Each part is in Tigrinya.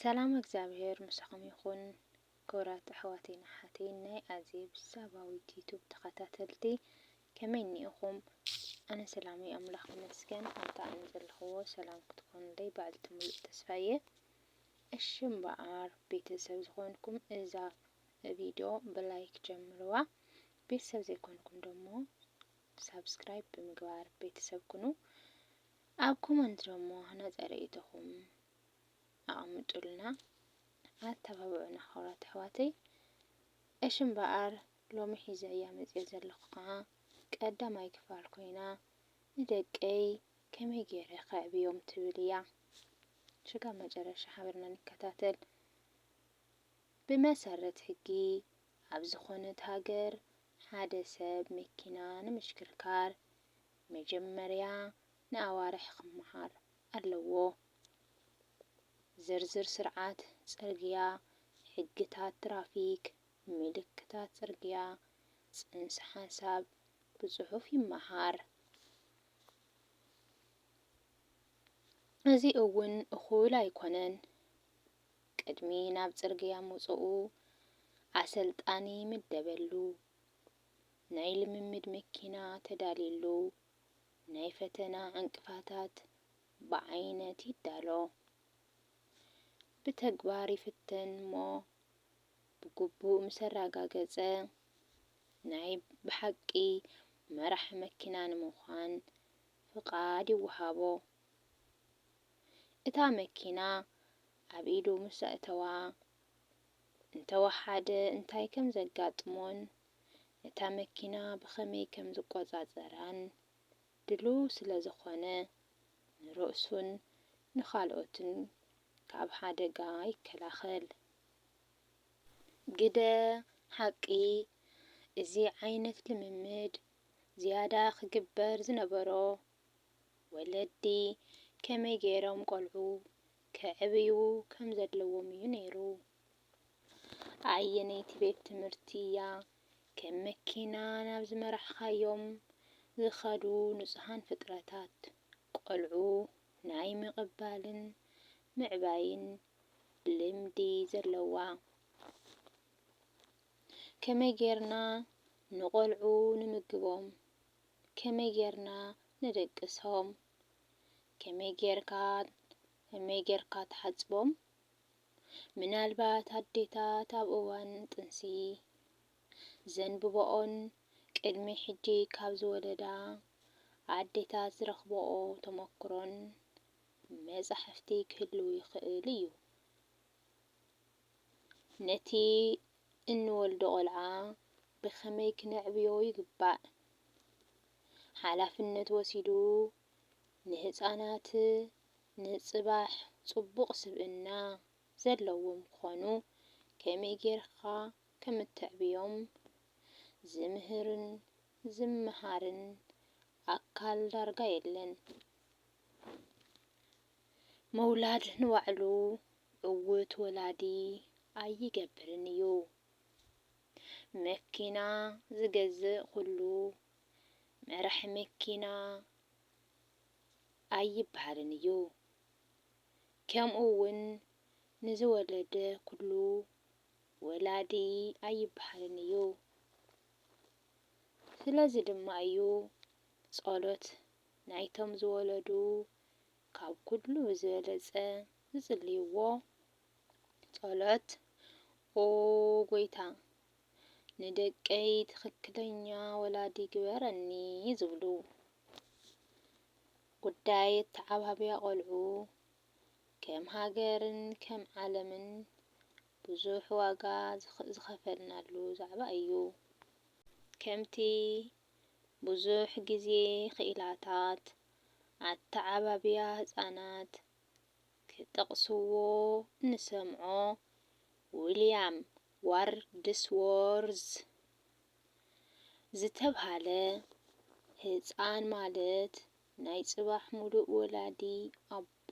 ሰላም እግዚኣብሔር ምሳኹም ይኹን ክብራት ኣሕዋተይን ኣሓተይን ናይ ኣዜብ ሳባዊት ዩቱብ ተኸታተልቲ ከመይ እኒኢኹም ኣነ ሰላም እየ ኣምላኽ ይመስገን ኣብታ ኣነ ዘለኽዎ ሰላም ክትኮኑለይ ባዕልቲ ሙሉእ ተስፋ እየ እሺ እምበኣር ቤተሰብ ዝኾንኩም እዛ ቪድዮ ብላይክ ጀምርዋ ቤተሰብ ዘይኮንኩም ደሞ ሳብስክራይብ ብምግባር ቤተሰብ ኩኑ ኣብ ኮመንት ደሞ ነፀ ርእይቶኹም ኣቐምጡልና ኣተባብዑና ክብራት ኣሕዋተይ። እሺ እምበኣር ሎሚ ሒዘያ መጺኤ ዘለኹ ከኣ ቀዳማይ ክፋል ኮይና ንደቀይ ከመይ ጌረ ከዕብዮም ትብል እያ። ሽጋብ መጨረሻ ሓቢርና ንከታተል። ብመሰረት ሕጊ ኣብ ዝኾነት ሃገር ሓደ ሰብ መኪና ንምሽክርካር መጀመርያ ንኣዋርሕ ክመሃር ኣለዎ። ዝርዝር ስርዓት ጽርግያ፣ ሕግታት ትራፊክ፣ ምልክታት ጽርግያ፣ ጽንሰ ሓሳብ ብጽሑፍ ይመሃር። እዚ እውን እኹል ኣይኮነን። ቅድሚ ናብ ጽርግያ ምውጽኡ ኣሰልጣኒ ይምደበሉ። ናይ ልምምድ መኪና ተዳልየሉ። ናይ ፈተና ዕንቅፋታት ብዓይነት ይዳሎ፣ ብተግባር ይፍተን እሞ ብግቡእ ምስ ኣረጋገጸ፣ ናይ ብሓቂ መራሒ መኪና ንምዃን ፍቓድ ይወሃቦ። እታ መኪና ኣብ ኢዱ ምስ ኣእተዋ፣ እንተወሓደ እንታይ ከም ዘጋጥሞን ነታ መኪና ብኸመይ ከም ዝቈጻጸራን ድሉው ስለ ዝዀነ፣ ንርእሱን ንኻልኦትን ካብ ሓደጋ ይከላኸል። ግደ ሓቂ፣ እዚ ዓይነት ልምምድ ዝያዳ ክግበር ዝነበሮ፣ ወለዲ ከመይ ገይሮም ቈልዑ ከዕብዩ ከም ዘለዎም እዩ ነይሩ። ኣየነይቲ ቤት ትምህርቲ እያ ከም መኪና ናብ ዝመራሕኻዮም ዝኸዱ ንጹሃን ፍጥረታት ቆልዑ ናይ ምቕባልን ምዕባይን ልምዲ ዘለዋ? ከመይ ጌርና ንቆልዑ ንምግቦም? ከመይ ጌርና ነደቅሶም? ከመይ ጌርካ ከመይ ጌርካ ትሓጽቦም? ምናልባት ኣዴታት ኣብ እዋን ጥንሲ ዘንብበኦን ቅድሚ ሕጂ ካብ ዝወለዳ ኣዴታት ዝረኽበኦ ተመኩሮን መጻሕፍቲ ክህልው ይኽእል እዩ። ነቲ እንወልዶ ቆልዓ ብኸመይ ክነዕብዮ ይግባእ? ሓላፍነት ወሲዱ ንህጻናት ንጽባሕ ጽቡቕ ስብእና ዘለዎም ክኾኑ ከመይ ጌርካ ከም እተዕብዮም ዝምህርን ዝመሃርን ኣካል ዳርጋ የለን። ምውላድ ንባዕሉ ዕዉት ወላዲ ኣይገብርን እዩ። መኪና ዝገዝእ ኩሉ መራሒ መኪና፣ ኣይብሃልን እዩ። ከምኡ እውን ንዝወለደ ኩሉ ወላዲ ኣይብሃልን እዩ። ስለዚ ድማ እዩ ጸሎት ናይቶም ዝወለዱ ካብ ኩሉ ብዝበለጸ ዝጽልይዎ ጸሎት ኦ ጎይታ ንደቀይ ትኽክለኛ ወላዲ ግበረኒ ዝብሉ ጉዳይ ኣተዓባብያ ቆልዑ ከም ሃገርን ከም ዓለምን ብዙሕ ዋጋ ዝኸፈልናሉ ዛዕባ እዩ። ከምቲ ብዙሕ ግዜ ክኢላታት ኣተዓባብያ ህጻናት ክጠቕስዎ እንሰምዖ፣ ዊልያም ዋርድስዎርዝ ዝተብሃለ ህጻን ማለት ናይ ጽባሕ ምሉእ ወላዲ ኣቦ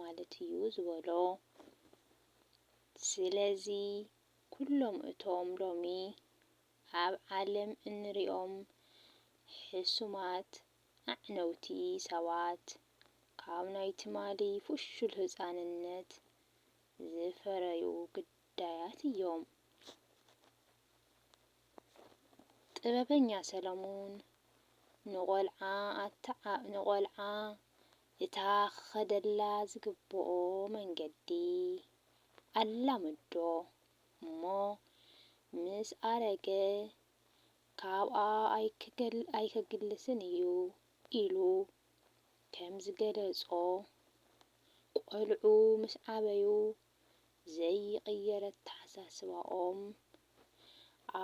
ማለት እዩ ዝበሎ። ስለዚ ኩሎም እቶም ሎሚ ኣብ ዓለም እንሪኦም ሕሱማት ኣዕነውቲ ሰባት ካብ ናይ ትማሊ ፍሹል ህጻንነት ዝፈረዩ ግዳያት እዮም። ጥበበኛ ሰለሙን ንቖልዓ እታ ክኸደላ ዝግብኦ መንገዲ ኣላመዶ እሞ ምስ ኣረገ ካብኣ ኣይከግልስን እዩ ኢሉ ከምዝገለጾ፣ ቆልዑ ምስ ዓበዩ ዘይቕየር ኣተሓሳስባኦም፣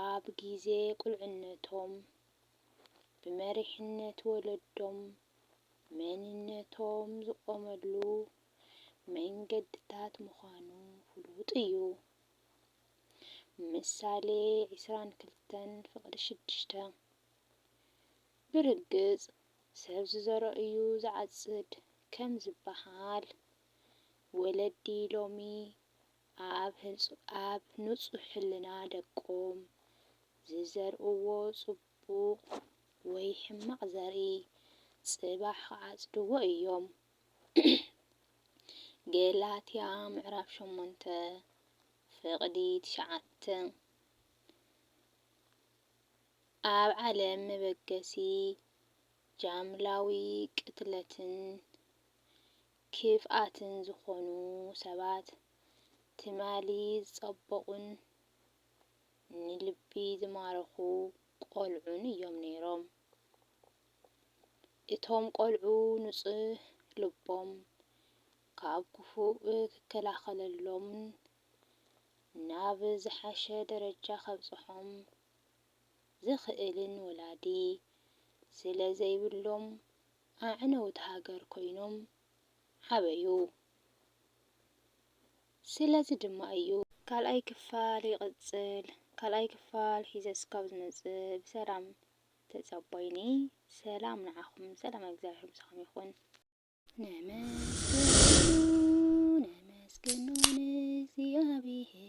ኣብ ግዜ ቁልዕነቶም ብመሪሕነት ወለዶም መንነቶም ዝቖመሉ መንገድታት ምዃኑ ፍሉጥ እዩ። ምሳሌ ዕስራን ክልተን ፍቕዲ ሽዱሽተ። ብርግጽ ሰብ ዝዘርኦ እዩ ዝዓጽድ ከም ዝበሃል፣ ወለዲ ሎሚ ኣብ ንጹህ ሕልና ደቆም ዝዘርእዎ ጽቡቕ ወይ ሕማቕ ዘርኢ ጽባሕ ክዓጽድዎ እዮም። ገላትያ ምዕራፍ ሸሞንተ ፍቕዲ ትሽዓተ ኣብ ዓለም መበገሲ ጃምላዊ ቅትለትን ክፍኣትን ዝኾኑ ሰባት ትማሊ ዝጸበቑን ንልቢ ዝማረኹ ቈልዑን እዮም ነይሮም። እቶም ቈልዑ ንጹህ ልቦም ካብ ክፉእ ክከላኸለሎምን ናብ ዝሓሸ ደረጃ ከብጽሖም ዝኽእልን ወላዲ ስለ ዘይብሎም ኣዕነውቲ ሃገር ኮይኖም ዓበዩ። ስለዚ ድማ እዩ። ካልኣይ ክፋል ይቅጽል። ካልኣይ ክፋል ሒዘ እስካብ ዝመጽእ ብሰላም ተጸቦይኒ ሰላም ንዓኹም ሰላም ኣግዚኣብሄር ምሳኹም ይኹን። ነመስግኖ ነመስግኖ ንእግዚኣብሄር